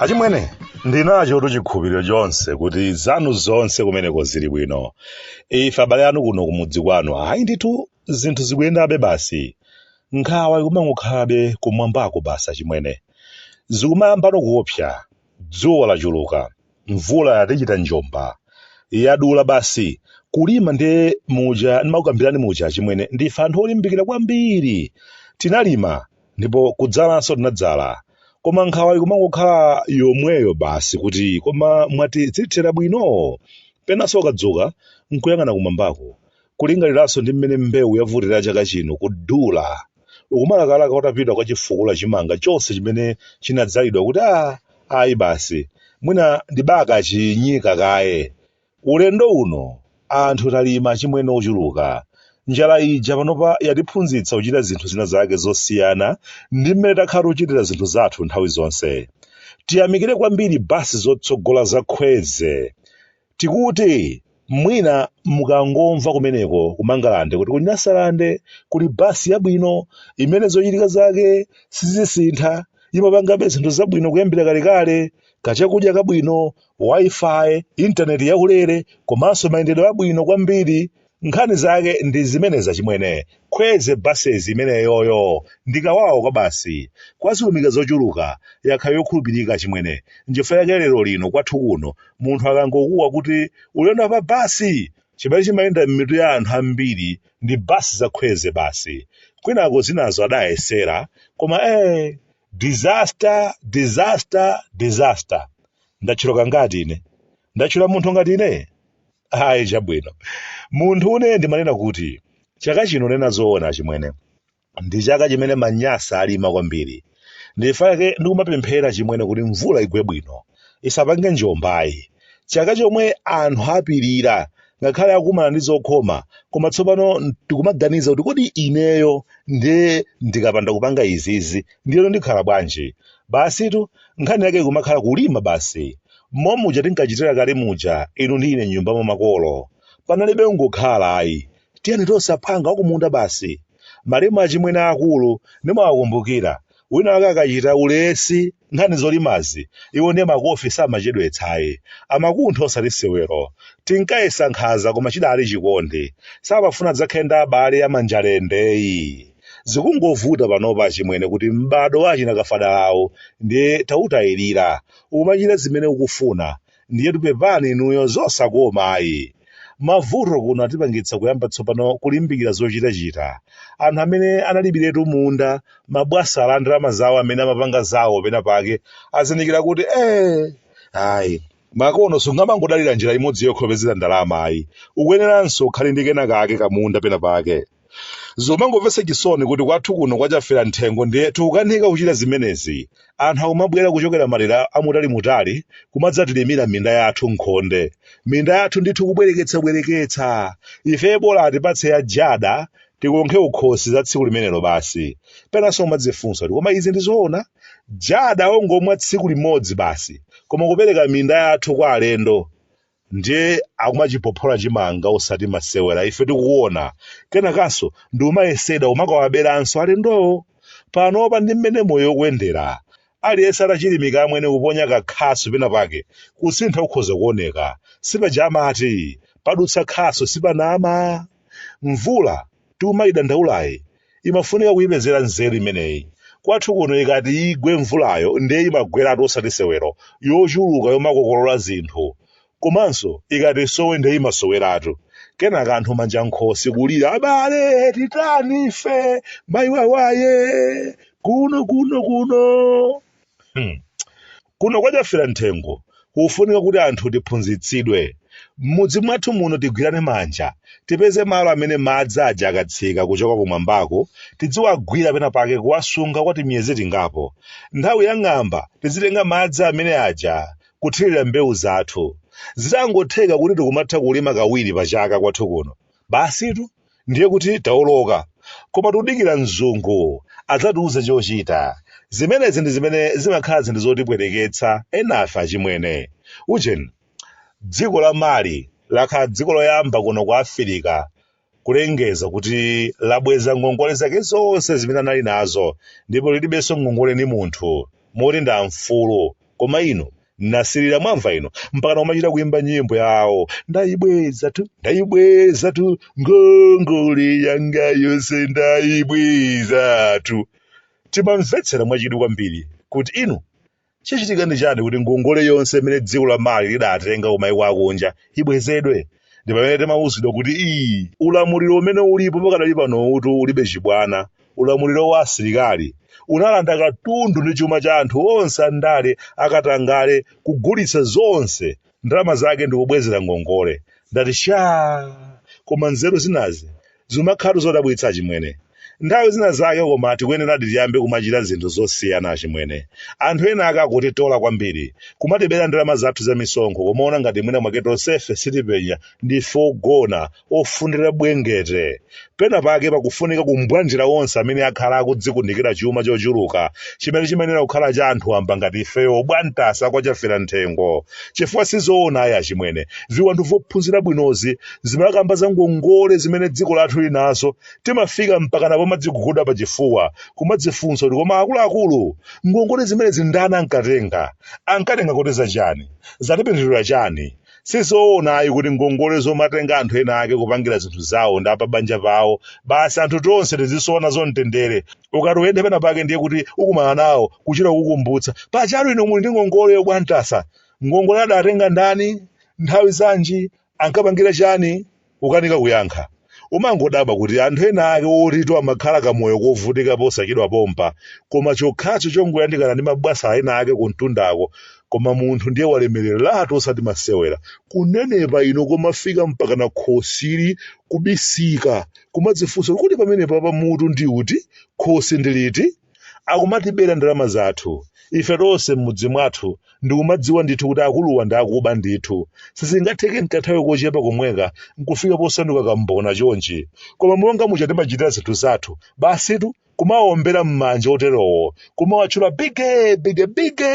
achimwene ndinachotu chikhulupiriro chonse kuti zanu zonse kumeneko zili bwino ife abale anu kuno kumudzi kwanu ayi ndithu zinthu zikuyendabe basi nkhawa ikumangokhalabe kumwambako basi achimwene zikumayambano kuopsa Dzuwa lachuluka, mvula yatichita njomba. Yadula basi. Kulima ndiye muja ndimakukambirani muja achimwene, ndife anthu olimbikira kwambiri. Tinalima ndipo kudzalanso tinadzala. Koma nkhawa ikumangokhala yomweyo basi kuti koma mwati zithera bwino? Penanso ukadzuka n'kuyang'ana kumwambako, kulingaliranso ndi mmene mbewu yavutira chaka chino, kudula. ukumalakalaka utapita kukachifukula chimanga chonse chimene chinadzalidwa kuti a ayi basi mwina ndibakachinyika kaye ulendo uno anthu talima achimwene ochuluka njala ija panopa yatiphunzitsa kuchita zinthu zina zake zosiyana ndi mmene takhala tochitira zinthu zathu nthawi zonse tiyamikire kwambiri basi zotsogola za Kwezy Tikuti mwina mukangomva kumeneko ku Mangalande kuti ku Nyasalande kuli basi yabwino imene zochitika zake sizisintha, imapangabe zinthu zabwino kuyambira kalekale, kachakudya kabwino, Wi-Fi, internet yaulere komanso mayendedwe abwino kwambiri, nkhani zake ndi zimenezi achimwene Kwezy buses imeneyoyo ndikawawa kwa basi kwazilumika zochuluka yakhala yokhulupirika achimwene nchifukwa yake lero lino kwathu kuno munthu akangokuwa kuti ulendo pa basi chimene chimayenda m'mitu ya anthu ambiri ndi basi za Kwezy basi kwinako zinazo adayesera koma eh disaster disaster disaster ndatchulako ngati ine ndatchula munthu ngati ine ayi chabwino munthu une ndimanena kuti chaka chino nena zoona achimwene ndi chaka chimene manyasa alima kwambiri nchifukwa chake ndikumapemphera achimwene kuti mvula igwe bwino isapange njomba ayi chaka chomwe anthu apirira ngakhale akumana ndi zokhoma koma tsopano tikumaganiza kuti kodi ineyo ndiye ndikapanda kupanga izizi ndiyeno ndikhala bwanji basitu nkhani yake ikumakhala kulima basi momuja tinkachitira kale muja inu ndi ine nyumba mwa makolo panalibe ungokhala ayi tiyeni tonse aphwanga wakumunda basi malemu achimwene aakulu ndimawakumbukira wina wake akachita ulesi nkhani zolimazi iwo ndiye makofi samachedwetsa ayi amakuntha osati sewero tinkayesa nkhaza koma chidali chikondi samafuna adzakhale ndi abale amanjalendeyi zikungovuta panopa achimwene kuti m'badwo wa achina kafadalawo ndiye tautayirira umachita zimene ukufuna ndiyetu pepani inuyo zosakoma ayi mavuto kuno atipangitsa kuyamba tsopano kulimbikira zochitachita anthu amene analibiretu munda mabwana a ndalama zawo amene amapanga zawo pena pake azindikira kuti eh ayi makono sungamangodalira njira imodzi yokha yopezera ndalama ayi ukuyeneranso ukhale ndi kena kake kamunda pena pake Zomangomvetsa chisoni kuti kwathu kuno kwa Chafera Mthengo ndiye tikukanika kuchita zimenezi. Anthu akumabwera kuchokera madera amutalimutali kumadzatilimira minda yathu m'khonde. Minda yathu ndithu kubwereketsabwereketsa! Ifeyo bola atipatse ya Jada tikonkhe kukhosi za tsiku limenelo basi. Penanso umadzifunsa kuti koma izi ndi zoona? Jada ongomwa tsiku limodzi basi, koma kupereka minda yathu kwa alendo? ndiye akumachiphophola chimanga osati masewera ife tikuona kenakanso ndi kumayesedwa kumakawaberanso alendowo panopa ndi mmene moyo ukuyendera aliyense atachilimika amwene kuponya kakhasu pena pake kusintha kukhoza kuoneka sipaja amati padutsa khasu sipanama mvula tikumaidandaulayi imafunika kuipezera nzeru imeneyi. Kwathu kuno ikati igwe mvulayo ndiye imagweratu osati sewero, yochuluka yomakokolola zinthu. Komanso ikati isowe ndiye imasoweratu. Kenaka anthu manja nkhosi kulira, abale titani ife, mayi wawaye, kuno kuno kuno. kuno kwa chafera mthengo kufunika kuti anthu tiphunzitsidwe m'mudzi mwathu muno tigwirane manja tipeze malo amene madzi aja akatsika kuchoka kumwambako tidziwagwira pena pake kuwasunga kwa timiyezi tingapo nthawi ya ng'amba tizitenga madzi amene aja kuthirira mbewu zathu zitangotheka kuti tikumatha kulima kawiri pa chaka kwathu kuno basitu ndiye kuti taoloka. Koma tudikira mzungu adzatiuze chochita. Zimenezi ndi zimene zimakhala zinthu zotipweteketsa enafe achimwene. Ujeni, dziko la Mali lakhala dziko loyamba kuno ku Africa kulengeza kuti labweza ngongole zake zonse zimene anali nazo ndipo lilibenso ngongole ndi munthu, moti ndi amfulu. koma ine nasirira mwamva inu mpakana kumachita kuimba nyimbo yawo ndayibwezatu ndayibwezatu ngongole yanga yonse ndayibwezatu timamvetsera mwachidwi kwambiri kuti inu chichitika ndi chani kuti ngongole yonse imene dziko la mali lidatenga kumaiko akunja ibwezedwe ndi pamene timauzidwa kuti ii ulamuliro umene ulipo pakadali pano uti ulibe chibwana Ulamuliro wa asilikali unalanda katundu ndi chuma cha anthu onse andale akatangale kugulitsa zonse ndalama zake ndikubwezera ngongole. Ndati shaa! Koma nzeru zinazi zumakhalatu zodabwitsa achimwene. Nthawi zina zake koma tikuyeneradi tiyambe kumachita zinthu zosiyana achimwene. Anthu ena ake akutitola kwambiri, kumatibera ndalama zathu zamisonkho kumaona ngati mwina mwake tonsefe sitipenya, ndife ogona, ofundira bwengete. Penapake pakufunika kumbwanjira onse amene akhala akudzikundikira chuma chochuluka chimene chimayenera kukhala cha anthu wamba ngati ifeyo a Bwantasa kwa Chafera Mthengo. Chifukwa si zoona ayi achimwene, viwanthu vophunzira bwino zizimakamba za ngongole zimene dziko lathu lili nazo, timafika mpakana pomadziguguda pachifuwa, kumadzifunsa kuti koma akuluakulu, ngongole zimenezi ndani ankatenga? Ankatenga kuti za chani? Zatipindulira chani? sizoona ayi kuti ngongole zomatenga anthu ena ake kupangira zinthu zawo ndi apabanja pawo basi anthu tonse tizisowa nazo mtendere ukati uyende pena pake ndiye kuti ukumana nawo kuchita kukumbutsa paja tu inu muli ndi ngongoleyo Bwantasa ngongole adatenga ndani nthawi zanji ankapangira chani Ukanika kuyankha, umangodabwa kuti anthu ena ake oti amakhala kamoyo kovutika posachedwa pompa, koma chokhacho chongoyandikana ndi mabwasala ena ake kumtundako, koma munthu ndiye walemereratu osati masewera, kunenepa uku komafika mpakana khosili kubisika, kumadzifunsa kuti kodi pamenepapa mutu ndi uti, khosi ndi liti? akumatibera ndalama zathu ife tonse m'mudzi mwathu ndikumadziwa ndithu kuti akuluwa ndi akuba ndithu sizingatheke m'kanthawi kochepa komweka nkufika posanduka kambona chonchi koma monga muja timachitira zinthu zathu basitu kumawombera m'manja oterowo kumawatchula bige bige bige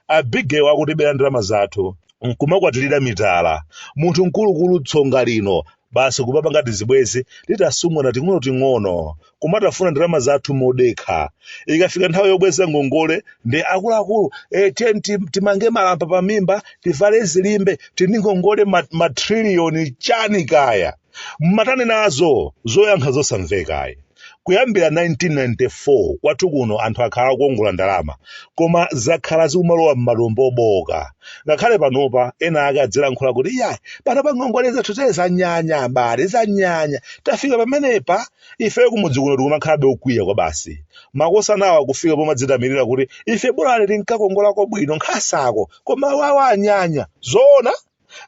abigewa akutibera ndalama zathu nkumakwatirira mitala munthu mkulukulu tsonga lino basi kumapanga tizibwezi tatsungwana ting'onoting'ono kumatafuna ndalama zathu modekha ikafika nthawi yobweza ngongole ndiye akuluakulu e, tiyeni ti- timange malamba pa mimba tivale zilimbe tili ndi ngongole ma- matriliyoni chani kaya mmatani nazo zoyankha zosamvekayi kuyambira 1994 kwathu kuno anthu akhala akuongola ndalama koma zakhala zikumalowa m'matumba obowoka ngakhale panopa ena ake azilankhula kuti iyayi panopa ngongole zathu zaye zanyanya abale zanyanya tafika pamenepa ifeyo kumudzi kuno tikumakhalabe okwiya kwa basi makosanawa akufika pomadzitamandira kuti ife bolani tinkakongolako bwino nkhasako koma wawa anyanya zoona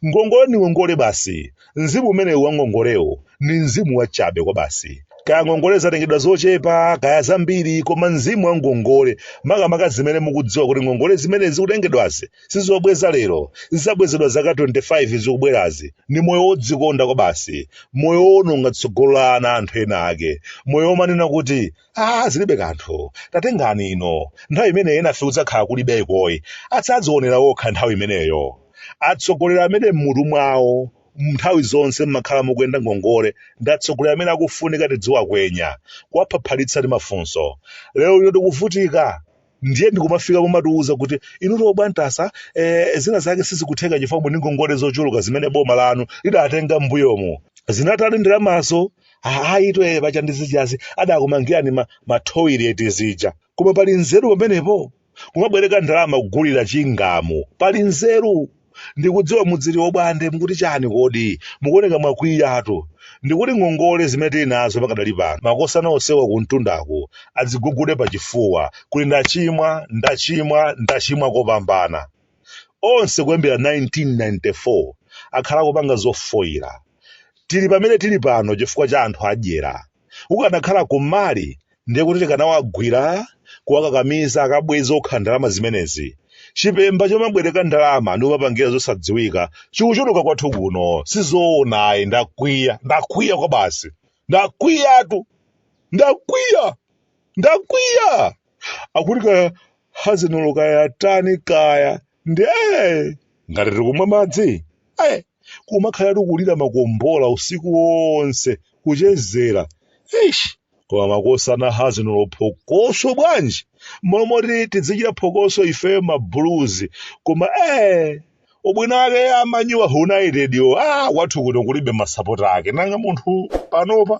Ngongole ni ngongole basi. Mzimu umenewu wa ngongolewo ni mzimu wacabe kwabasi. Kaya ngongole zatengedwa zocepa kaya zambili, koma mzimu wa ngongole, makamaka zimene mukudziwa kuti ngongole zimene zikutengedwazi si zobweza lelo, zidzabwezedwa zaka 25 zikubwelazi, ni moyo wodzikonda kwabasi, moyo wowononga tsogolo la ana a anthu ena ake, moyo womanena kuti, aa zilibe kanthu tatengani ino nthawi imeneyo enafe kudzakhala kulibeko ayi adzadzionera okha nthawi imeneyo atsogoleri amene m'mutu mwawo nthawi zonse mmakhala mukuyenda ngongole ndi atsogoleri amene akufunika tidziwakwenya kuwaphaphalitsa ndi mafunso lero lino tikuvutika ndiye ndikumafika pomatiuza kuti inutu Obwande sa eh, zina zake sizikutheka chifukwa ndi ngongole zochuluka zimene boma lanu lidatenga m'mbuyomu zinatani ndalamazo ayi toyileti paja ndi zijazi adakumangirani ma, ma toilet zija koma pali nzeru pamenepo kumabwereka ndalama kugulira chingamu pali nzeru Ndikudziwa mudziti Obwande mukuti chani kodi? Mukuoneka mwakwiyatu. Ndikuti ngongole zimene tili nazo pakadali pano makosana onsewa kumtundaku adzigugude pachifuwa kuti ndachimwa, ndachimwa, ndachimwa kopambana. Onse kuyambira 1994 akhala akupanga zofoila. Tili pamene tili pano chifukwa cha anthu adyera. kukanakhala ku Mali ndiye kuti tikanawagwira kuwakakamiza akabweze okha ndalama zimenezi chipemba chomabwereka ndalama ndi kumapangira zosadziwika chikuchuluka kwathu kuno sizoona ayi ndakwiya ndakwiya kwa basi ndakwiyatu ndakwiya ndakwiya akuti kaya hazinolo kaya tani kaya ndiye ngati tikumwa madzi ee kumakhala akulira makombola usiku wonse kuchezera ish koma makosana hazinolo phokoso bwanji mmalo moti tidzichita phokoso ifeyo ma Blues koma ee ubwino wake a Man United yo ah wathu kuno kulibe masapota ake nanga munthu panopa